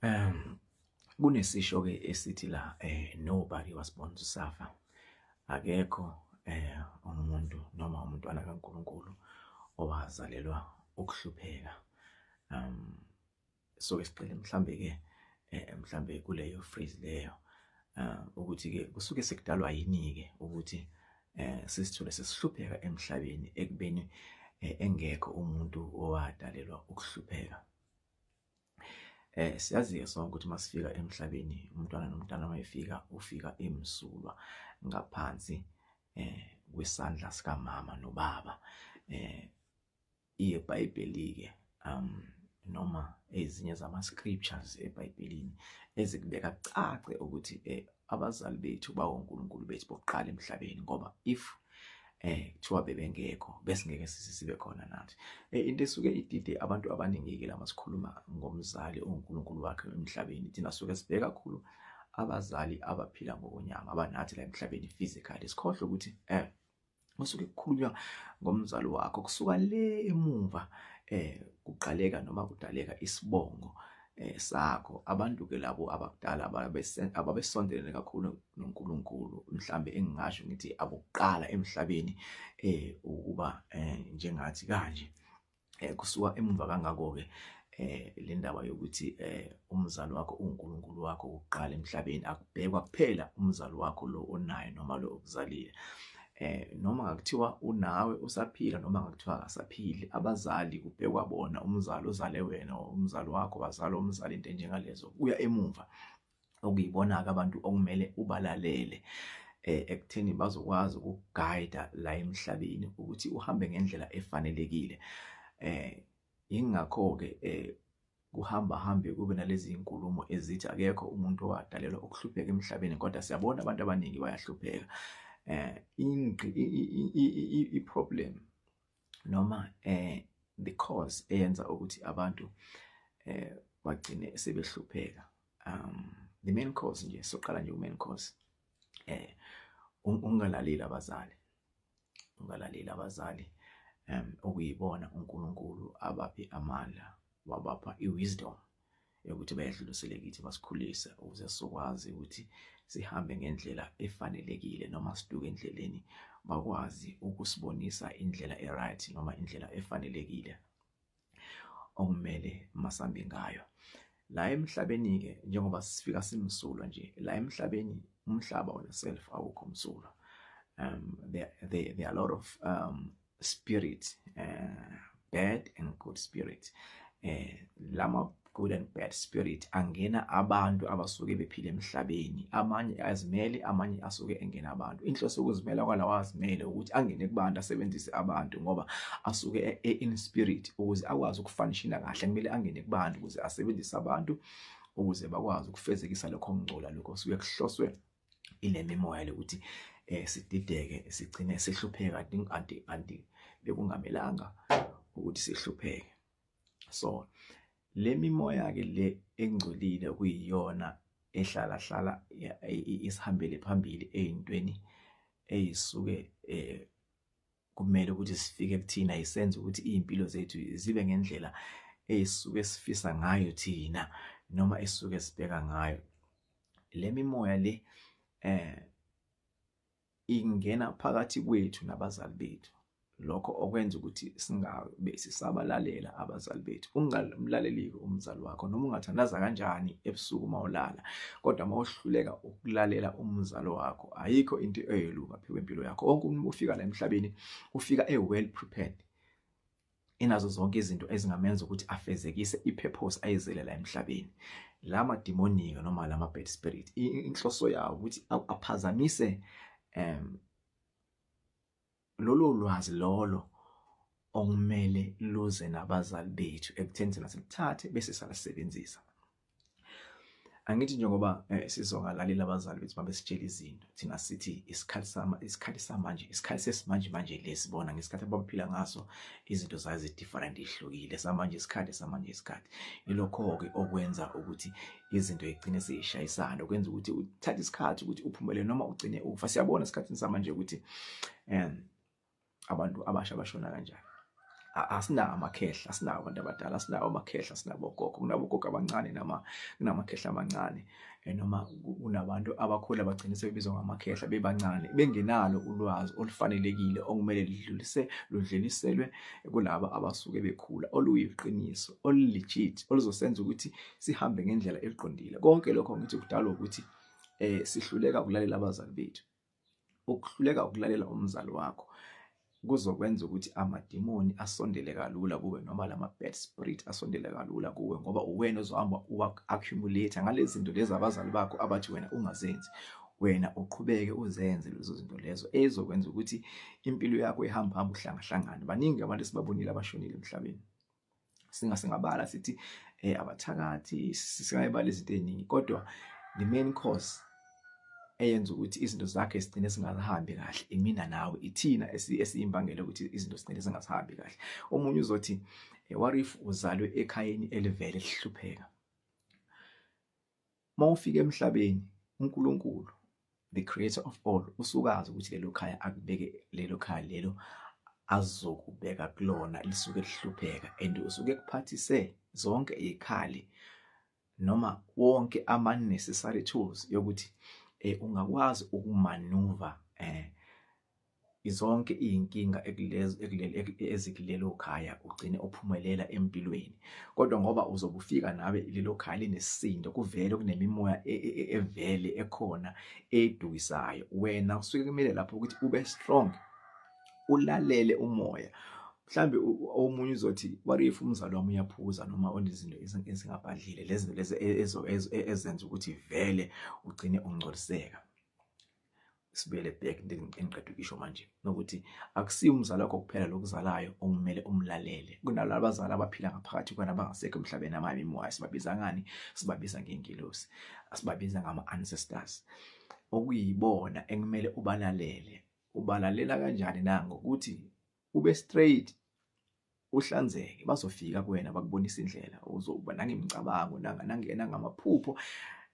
Um kunesisho ke esithi la eh nobody was born to suffer. Akekho eh umuntu noma umntwana kaNkuluNkulu owazalelwa ukuhlupheka. Um so ke sicela mhlambe ke eh mhlambe kuleyo phrase leyo uh, ukuthi ke kusuke sekudalwa yini ke ukuthi eh sisithole sesihlupheka emhlabeni ekubeni eh, engekho umuntu owadalelwa ukuhlupheka eh siyazi sonke ukuthi masifika emhlabeni umntwana nomntana mayefika ufika emsulwa ngaphansi eh kwisandla sikamama nobaba eh iyeBhayibheli-ke um noma ezinye zama-scriptures eBhayibhelini ezikubeka kucace ukuthi eh, abazali bethu bawonkulunkulu bethu bokuqala emhlabeni ngoba if eh kuthiwa bebengekho besingeke sisibe khona nathi eh, into esuke idide abantu abaningi-ke lama sikhuluma ngomzali onkulunkulu wakhe emhlabeni thina suke sibheke kakhulu abazali abaphila ngokonyama abanathi la emhlabeni physically sikhohle ukuthi eh masuke kukhulunywa ngomzali wakho kusuka le emuva eh kuqaleka noma kudaleka isibongo eh sakho abantu ke labo abakudala ababesondelene kakhulu noNkulunkulu mhlambe engingasho ngithi abokuqala emhlabeni eh ukuba eh, njengathi kanje eh kusuka emuva kangako ke eh le ndaba yokuthi eh umzali wakho uNkulunkulu wakho uqala emhlabeni akubhekwa kuphela umzali wakho lo onayo noma lo okuzalile eh noma ngakuthiwa unawe usaphila noma ngakuthiwa akasaphili abazali kubhekwa bona umzali ozale wena umzali wakho wazala umzali into enjengalezo kuya emuva okuyibona-ke abantu okumele ubalalele um ekutheni bazokwazi ukugayida la emhlabeni ukuthi uhambe ngendlela efanelekile um yingakho-ke um kuhamba hambe kube nalezi zinkulumo ezithi akekho umuntu owadalelwa ukuhlupheka emhlabeni kodwa siyabona abantu abaningi bayahlupheka um iproblem noma eh the cause eyenza ukuthi abantu eh bagcine sebehlupheka um the main cause nje soqala nje umain cause eh ungalaleli abazali ungalaleli abazali um okuyibona uNkulunkulu abaphe amandla wabapha i-wisdom yokuthi bayedlulisele kithi basikhulise ukuze sizokwazi ukuthi sihambe ngendlela efanelekile noma siduke endleleni bakwazi ukusibonisa indlela e-right noma indlela efanelekile okumele masambe ngayo la emhlabeni-ke njengoba sifika simsulwa nje la emhlabeni umhlaba wona self awukho msulwa um, there, there, there are a lot of um, spirit uh, bad and good spirit eh lama good and bad spirit angena abantu abasuke bephila emhlabeni amanye azimele amanye asuke engena abantu inhloso ukuzimela kwalawa azimele ukuthi angene kubantu asebenzise abantu ngoba asuke e, e, in spirit ukuze akwazi ukufanishina kahle kumele angene kubantu ukuze asebenzise abantu ukuze bakwazi ukufezekisa lokho ngcola lokho suke kuhloswe inemimoya lokuthi eh sidideke sigcine sihlupheka anti anti bekungamelanga ukuthi sihlupheke so le mimoya ke le engcolile kuyiyona ehlala hlala isihambele phambili ezintweni eyisuke eh kumele ukuthi sifike kuthina isenze ukuthi izimpilo zethu zibe ngendlela esuke sifisa ngayo thina noma esuke sibheka ngayo lemimoya le eh ingena phakathi kwethu nabazali bethu lokho okwenza ukuthi singabe sisabalalela abazali bethu ungalaleliki umzali wakho noma ungathandaza kanjani ebusuku mawulala kodwa mawuhluleka ukulalela umzali wakho ayikho into eyelunga phezu kwempilo yakho wonke umuntu ufika la emhlabeni ufika e well prepared enazo zonke izinto ezingamenza ukuthi afezekise ipurpose ayizele la emhlabeni la mademonic noma la ma bad spirit inhloso yawo ukuthi aphazamise um lolo lwazi lolo okumele luze nabazali bethu ekutheni thina siluthathe bese salisebenzisa angithi njengoba eh, sizongalalela abazali bethu mabesitshela izinto thina sithi isikhathi sama isikhathi samanje isikhathi sesimanje manje lesi bona ngesikhathi abaphila ngaso izinto zayo zi-different ihlukile samanje isikhathi samanje isikhathi ilokho-ke okwenza ukuthi izinto egcine seyishayisana okwenza ukuthi uthathe isikhathi ukuthi uphumele noma ugcine ufa siyabona esikhathini samanje ukuthi um abantu abasha bashona kanjani asinawo amakhehla asinawo abantu abadala asinawo amakhehla asinabo gogo kunabogogo abancane nama kunamakhehla amancane eh, noma kunabantu abakhulu abagcine sebebizwa ngamakhehla bebancane bengenalo ulwazi olufanelekile okumele lidlulise ludluliselwe kulaba abasuke bekhula oluyiqiniso olulegit oluzosenza ukuthi sihambe ngendlela eqondile konke lokho ngithi kudalwa ukuthi eh sihluleka ukulalela abazali bethu ukuhluleka ukulalela umzali wakho kuzokwenza ukuthi amadimoni asondele kalula kuwe noma lama bad spirit asondele kalula kuwe ngoba uwena ozohamba uwa accumulate ngalezi zinto lezi abazali bakho abathi wena ungazenzi wena uqhubeke uzenze lezo zinto lezo ezokwenza ukuthi impilo yakho ihamba hamba uhlangahlangana baningi abantu esibabonile abashonile emhlabeni singa singabala sithi eh abathakathi singayibala izinto eziningi kodwa the main cause eyenza ukuthi izinto zakhe sigcine singazihambi kahle imina nawe ithina esiyimbangela ukuthi izinto sigcine singazihambi kahle omunye uzothi eh, what if uzalwe ekhayeni elivele lihlupheka Mawufika emhlabeni uNkulunkulu the creator of all usukazi ukuthi lelo khaya akubeke lelo khaya lelo azokubeka kulona lisuke lihlupheka and usuke kuphathise zonke ikhali noma wonke ama necessary tools yokuthi eh ungakwazi ukumanuva eh Zonke izinkinga ekulezo ekuleli ezikulelo khaya ugcine uphumelela empilweni kodwa ngoba uzobufika nawe lelo khaya linesindo kuvele kunemimoya e, e, e, evele ekhona edukisayo wena kusuke kumele lapho ukuthi ube strong ulalele umoya mhlambe omunye uzothi what if umzali wami uyaphuza noma onezinto ezingabhadlile lezinto lezi ezenza ukuthi vele ugcine ungcoliseka sibuyele back engiqeda ukisho manje nokuthi akusiyo umzali wakho kuphela lokuzalayo okumele umlalele kunalabo abazali abaphila ngaphakathi kwana abangasekho emhlabeni amabi moya sibabiza ngani sibabiza ngengilosi asibabiza ngama ancestors okuyibona ekumele ubalalele ubalalela kanjani na ngokuthi ube straight uhlanzeke bazofika kuwena bakubonisa indlela uzoba nangemicabango nangena ngamaphupho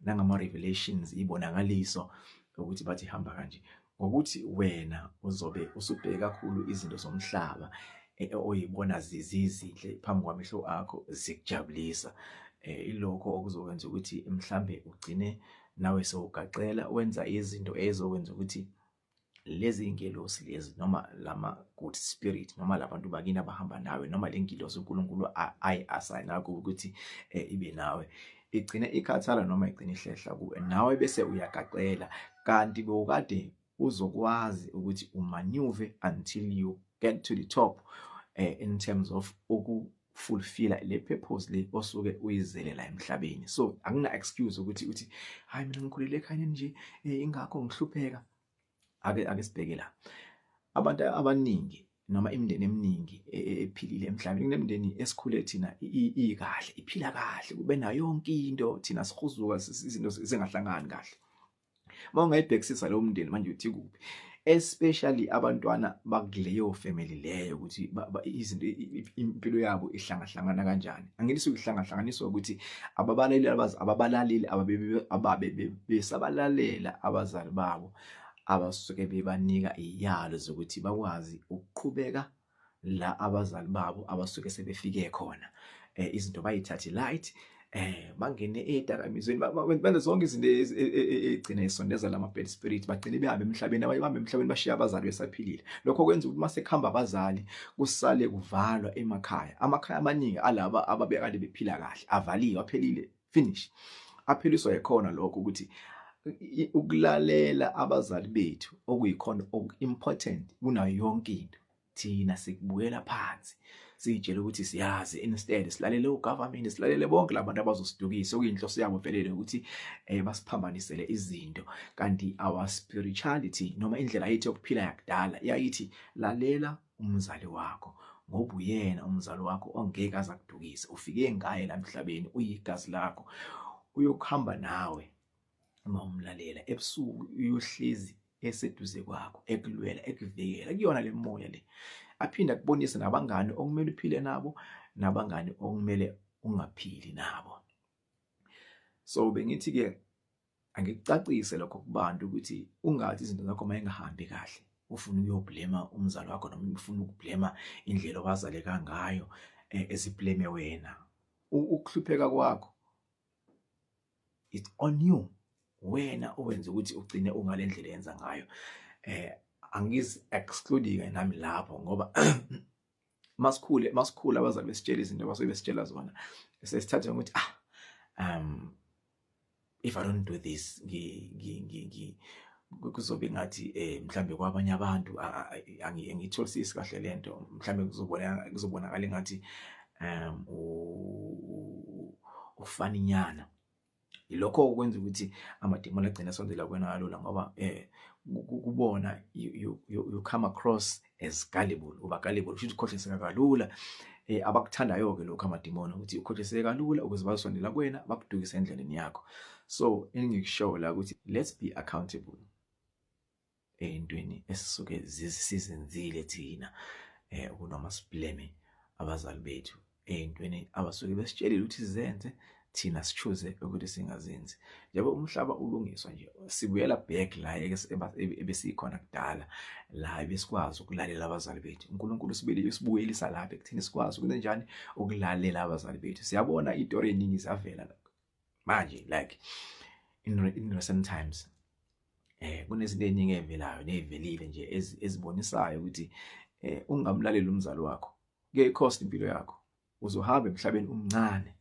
nangama revelations ibonakaliso ukuthi bathi hamba kanje ngokuthi wena uzobe usubheke kakhulu izinto zomhlaba eh, oyibona zizizinhle phambi kwamehlo akho zikujabulisa eh, ilokho okuzokwenza ukuthi mhlambe ugcine nawe sewugaqela wenza izinto ezokwenza ukuthi lezi iy'ngelosi lezi noma lama-good spirit noma labantu bakini abahamba nawe noma le ngilosi unkulunkulu ayi-asayina kuwe ukuthi um ibe nawe igcine ikhathala noma igcine ihlehla kuwe nawe bese uyagaxela kanti bewukade uzokwazi ukuthi umanyuve until you get to the top um in terms of uku fulfilla le purpose le osuke uyizele la emhlabeni so akuna excuse ukuthi uthi hayi mina ngikhulele ekhaya nje eh, ingakho ngihlupheka ake ake sibheke la abantu abaningi noma imindeni eminingi e, e, ephilile emhlabeni kunemindeni esikhule thina ikahle iphila kahle kube nayo yonke into thina sihuzuka izinto zingahlangani kahle uma ungayibhekisisa leyo mndeni manje uthi kuphi especially abantwana bakuleyo family leyo ukuthi izinto impilo yabo ihlangahlangana kanjani angithi ukuhlangahlanganiswa ukuthi ababalaleli abazi ababalaleli ababe besabalalela abazali babo abasuke bebanika iyalo zokuthi bakwazi ukuqhubeka la abazali babo abasuke sebefike khona eh izinto bayithathe light eh bangene edakamizweni benza zonke izinto e, e, e, egcina isondeza lama bad spirit bagcine behambe emhlabeni abanye bahambe emhlabeni bashiya abazali besaphilile lokho kwenza ukuthi mase khamba abazali kusale kuvalwa emakhaya amakhaya amaningi alaba ababekade bephila kahle avaliwe aphelile finish aphiliswa yikhona lokho ukuthi ukulalela abazali bethu okuyikhona oku-important kunayo yonke into thina sikubukela phansi siyitshela ukuthi siyazi instead silalele ugovernment silalele bonke labantu abazosidukisa okuyinhloso yabo velele ukuthi eh basiphambanisele izinto kanti our spirituality noma indlela yethu yokuphila yakudala yayithi lalela umzali wakho ngoba uyena umzali wakho ongeke aza kudukise ufike ngaye la emhlabeni uyigazi lakho uyokuhamba nawe uma umlalela ebusuku uyohlezi eseduze kwakho ekulwela ekuvikela kuyona le moya le aphinde akubonise nabangani okumele uphile nabo nabangani okumele ungaphili nabo so bengithi ke Angikucacise lokho kubantu ukuthi ungathi izinto zakho uma engahambi kahle ufuna ukuyoblema umzali wakho noma ufuna ukublema indlela owazaleka ngayo e, esibleme wena. Ukuhlupheka kwakho it's on you. Wena owenza ukuthi ugcine ungale ndlela yenza ngayo. Eh angizi exclude-ke nami lapho ngoba masikhule masikhula abazali besitshela izinto abasuke besitshela zona sesithatha ukuthi ah um if i don't do this ngi ngi ngi kuzobe ngathi eh mhlambe kwabanye abantu angitholisisi kahle lento mhlambe kuzobona kuzobonakala ngathi um ufaninyana Yilokho okwenza ukuthi amademon agcina asondela kuwena kalula ngoba eh kubona you, you, you, you come across as gullible uba gullible futhi ukhohliseka kalula eh abakuthandayo ke lokho amademon ukuthi ukhohliseka kalula ukuze bazosondela kuwena bakudukise endleleni yakho so engikushoyo la ukuthi let's be accountable eyintweni esisuke sizenzile thina eh kunoma sibleme abazali bethu eyintweni abasuke besitshelile ukuthi sizenze thina sichuze ukuthi singazenzi njengoba umhlaba ulungiswa nje sibuyela back la ebesikhona kudala la besikwazi ukulalela abazali bethu uNkulunkulu sibili usibuyelisa lapha ekuthini sikwazi ukwenza njani ukulalela abazali bethu siyabona itori eningi zavela manje like in, in recent times eh kunezinto eziningi evelayo nezivelile nje ezibonisayo ukuthi eh ungamlaleli umzali wakho kuye cost impilo yakho uzohamba emhlabeni umncane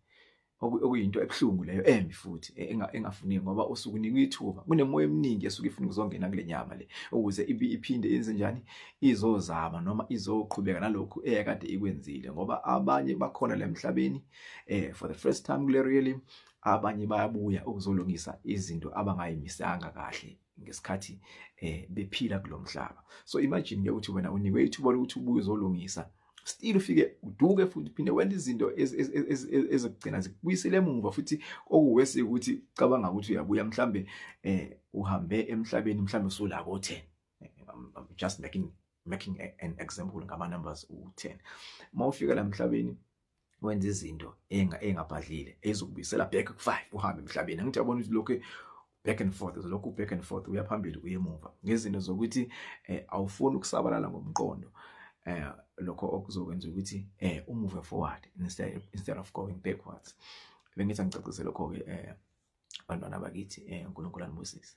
okuyinto ebuhlungu leyo embi futhi e, engafuni ngoba usuku unikwa ithuba kunemoya eminingi esuke ifuna ukuzongena kule nyama le ukuze iphinde yenze njani izozama noma izoqhubeka nalokhu eyakade ikwenzile ngoba abanye bakhona la emhlabeni eh for the first time kule really abanye bayabuya ukuzolungisa izinto abangayimisanga kahle ngesikhathi eh bephila kulomhlaba so imagine ke ukuthi wena unikwe ithuba lokuthi ubuye uzolungisa still ufike uduke futhi phinde wenza izinto ezokugcina zikubuyisele emuva futhi okuwesi ukuthi cabanga ukuthi uyabuya mhlambe eh uhambe emhlabeni mhlambe usulako 10 I'm just making making a, an example ngama numbers u10 mawufika la mhlabeni wenza izinto enga engabhadlile ezokubisela back ku5 uhambe emhlabeni angithi yabona ukuthi lokho back and forth uzolokhu back and forth uya phambili uye emuva ngezinto zokuthi eh, awufuni ukusabalala ngomqondo eh lokho okuzokwenza ukuthi eh umuve forward instead instead of going backwards bengithi angicacisele lokho ke eh bantwana bakithi eh uNkulunkulu anibusise